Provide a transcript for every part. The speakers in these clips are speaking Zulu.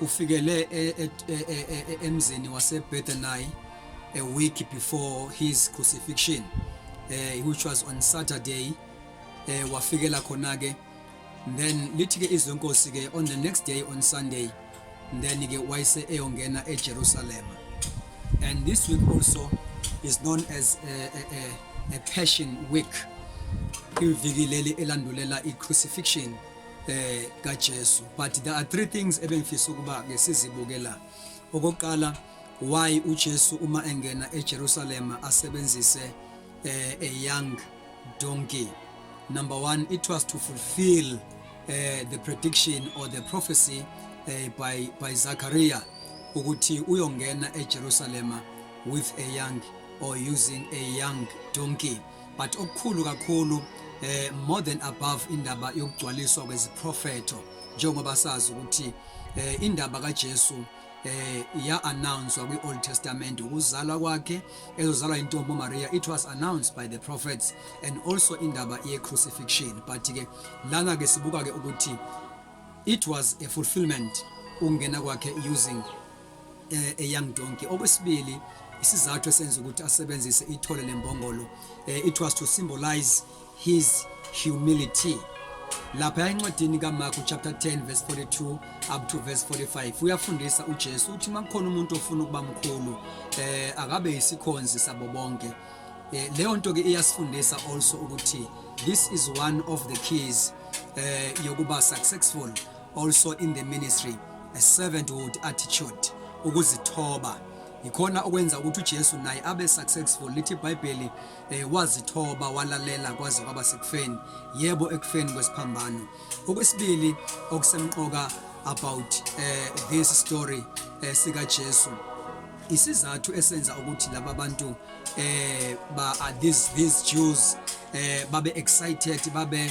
ufikele e, e, e, emzini wasebethany a week before his crucifixion uh, which was on saturday uh, wafikela khona-ke then lithi-ke izwe nkosi-ke on the next day on sunday then-ke wayese eyongena ejerusalema and this week also is known as a, a, a, a passion week ivikileli elandulela i-crucifixion eh kaJesu but there are three things ebengifisa ukuba ke sizibuke la okokuqala why uJesu uma engena eJerusalem asebenzise eh, a young donkey number 1 it was to fulfill eh, the prediction or the prophecy eh, by by Zachariah ukuthi uyongena eJerusalem with a young or using a young donkey but okukhulu kakhulu eh more than above indaba yokugcwaliswa kweziprofeto njengoba sazi ukuthi eh indaba kaJesu eh ya announce kwi Old Testament ukuzalwa kwakhe ezozalwa intombi Maria it was announced by the prophets and also indaba ye crucifixion but ke lana ke sibuka ke ukuthi it was a fulfillment ungena kwakhe using eh, eyoung donkey okwesibili isizathu esenza ukuthi asebenzise ithole lembongolo eh, it was to symbolize his humility lapha encwadini kaMarku chapter 10 verse 42 up to verse 45 uyafundisa uJesu uthi makukhona umuntu ofuna ukuba mkhulu eh akabe isikhonzi sabo bonke eh, leyo nto ke iyasifundisa also ukuthi this is one of the keys eh yokuba successful also in the ministry a servanthood attitude ukuzithoba yikhona okwenza ukuthi uJesu naye abe successful lithi iBhayibheli eh, wazithoba walalela kwaze kwaba sekufeni yebo ekufeni kwesiphambano okwesibili okusemqoka about eh, this story eh, sika Jesu isizathu esenza ukuthi laba bantu eh ba are these these Jews eh babe excited babe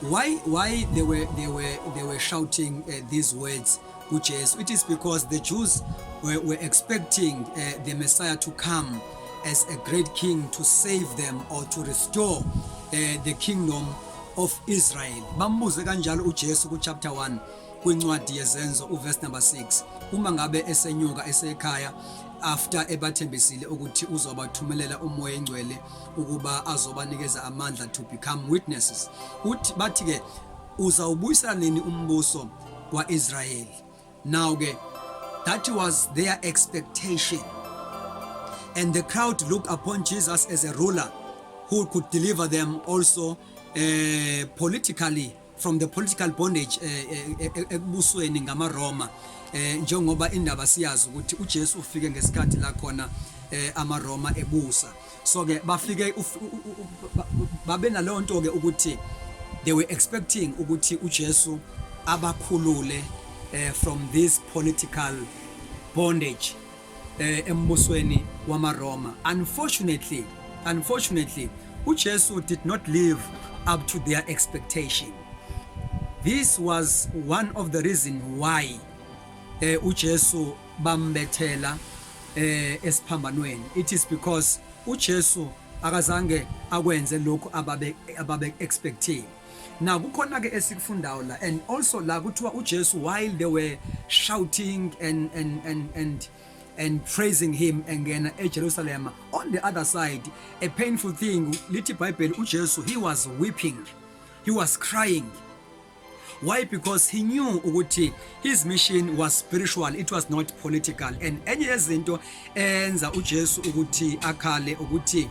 Why why they were they were they were shouting uh, these words kuJesu? It is because the Jews were, were expecting uh, the Messiah to come as a great king to save them or to restore uh, the kingdom of Israel. Bambuze kanjalo uJesu ku chapter 1 kwincwadi yezenzo uverse number 6 uma ngabe esenyuka esekhaya after ebathembisile ukuthi uzobathumelela umoya engcwele ukuba azobanikeza amandla to become witnesses uthi bathi ke uzawubuyisela nini umbuso kwaIsrayeli now ke that was their expectation and the crowd looked upon Jesus as a ruler who could deliver them also uh, politically from the political bondage eh, eh, eh, ekubusweni ngamaRoma njengoba indaba siyazi ukuthi uJesu ufike ngesikhathi la khona amaRoma ebusa so ke bafike babe naleyo nto ke ukuthi they were expecting ukuthi uJesu abakhulule from this political bondage eh, embusweni wamaRoma unfortunately unfortunately uJesu did not live up to their expectation this was one of the reason why eh, uJesu bambethela eh, esiphambanweni it is because uJesu akazange akwenze lokhu ababe ababe expecting Now kukhona ke esikufundayo la and also la kuthiwa uJesu while they were shouting and and and and and praising him engena eJerusalem on the other side a painful thing lithi iBhayibheli uJesu he was weeping he was crying why because he knew ukuthi his mission was spiritual it was not political and enye yezinto enza uJesu ukuthi akhale ukuthi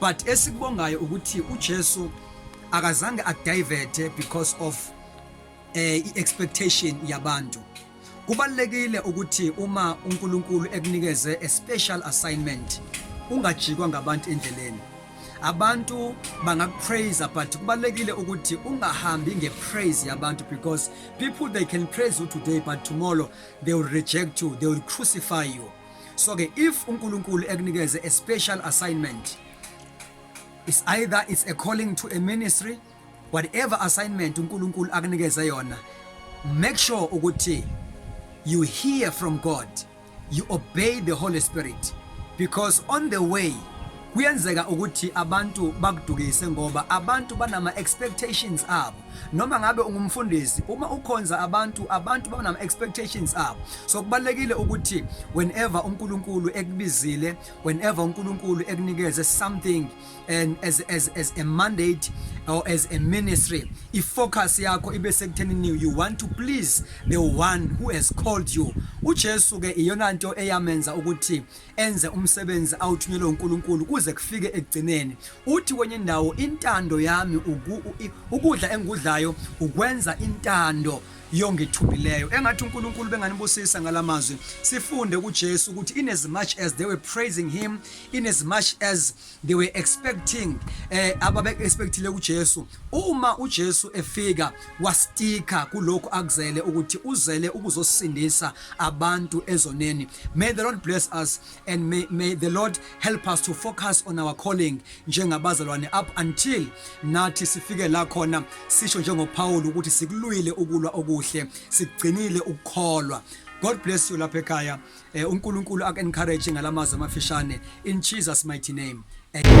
but esikubongayo ukuthi uJesu akazange adiverte because of eh iexpectation yabantu kubalekile ukuthi uma uNkulunkulu ekunikeze a special assignment ungajikwa ngabantu endleleni abantu bangakupraise but kubalekile ukuthi ungahambi ngepraise yabantu because people they can praise you today but tomorrow they will reject you they will crucify you so ke if uNkulunkulu ekunikeze a special assignment is either it's a calling to a ministry whatever assignment uNkulunkulu akunikeze yona make sure ukuthi you hear from God you obey the Holy Spirit because on the way kuyenzeka ukuthi abantu bakudukise ngoba abantu banama expectations abo noma ngabe ungumfundisi uma ukhonza abantu abantu banama expectations abo so kubalekile ukuthi whenever uNkulunkulu ekubizile whenever uNkulunkulu ekunikeze something and as as as a mandate or as a ministry i focus yakho ibe sekuthenini you want to please the one who has called you uJesu ke iyona nto eyamenza ukuthi enze umsebenzi awuthunyelwe uNkulunkulu kuze kufike ekugcineni uthi kwenye indawo intando yami uku, ukudla engikudlayo ukwenza intando yongithumileyo engathi uNkulunkulu benganibusisa ngalamazwi sifunde kuJesu ukuthi in as much as they were praising him in as much as they were expecting eh ababe expectile uJesu uma uJesu efika wastika kulokho akuzele ukuthi uzele ukuzosindisa abantu ezoneni may the lord bless us and may, may the lord help us to focus on our calling njengabazalwane up until nathi sifike la khona sisho njengoPaul ukuthi sikulwile ukulwa okuhle sigcinile ukukholwa god bless you lapha ekhaya Eh, uNkulunkulu ak encourage ngalamazwi amafishane in Jesus mighty name. Amen.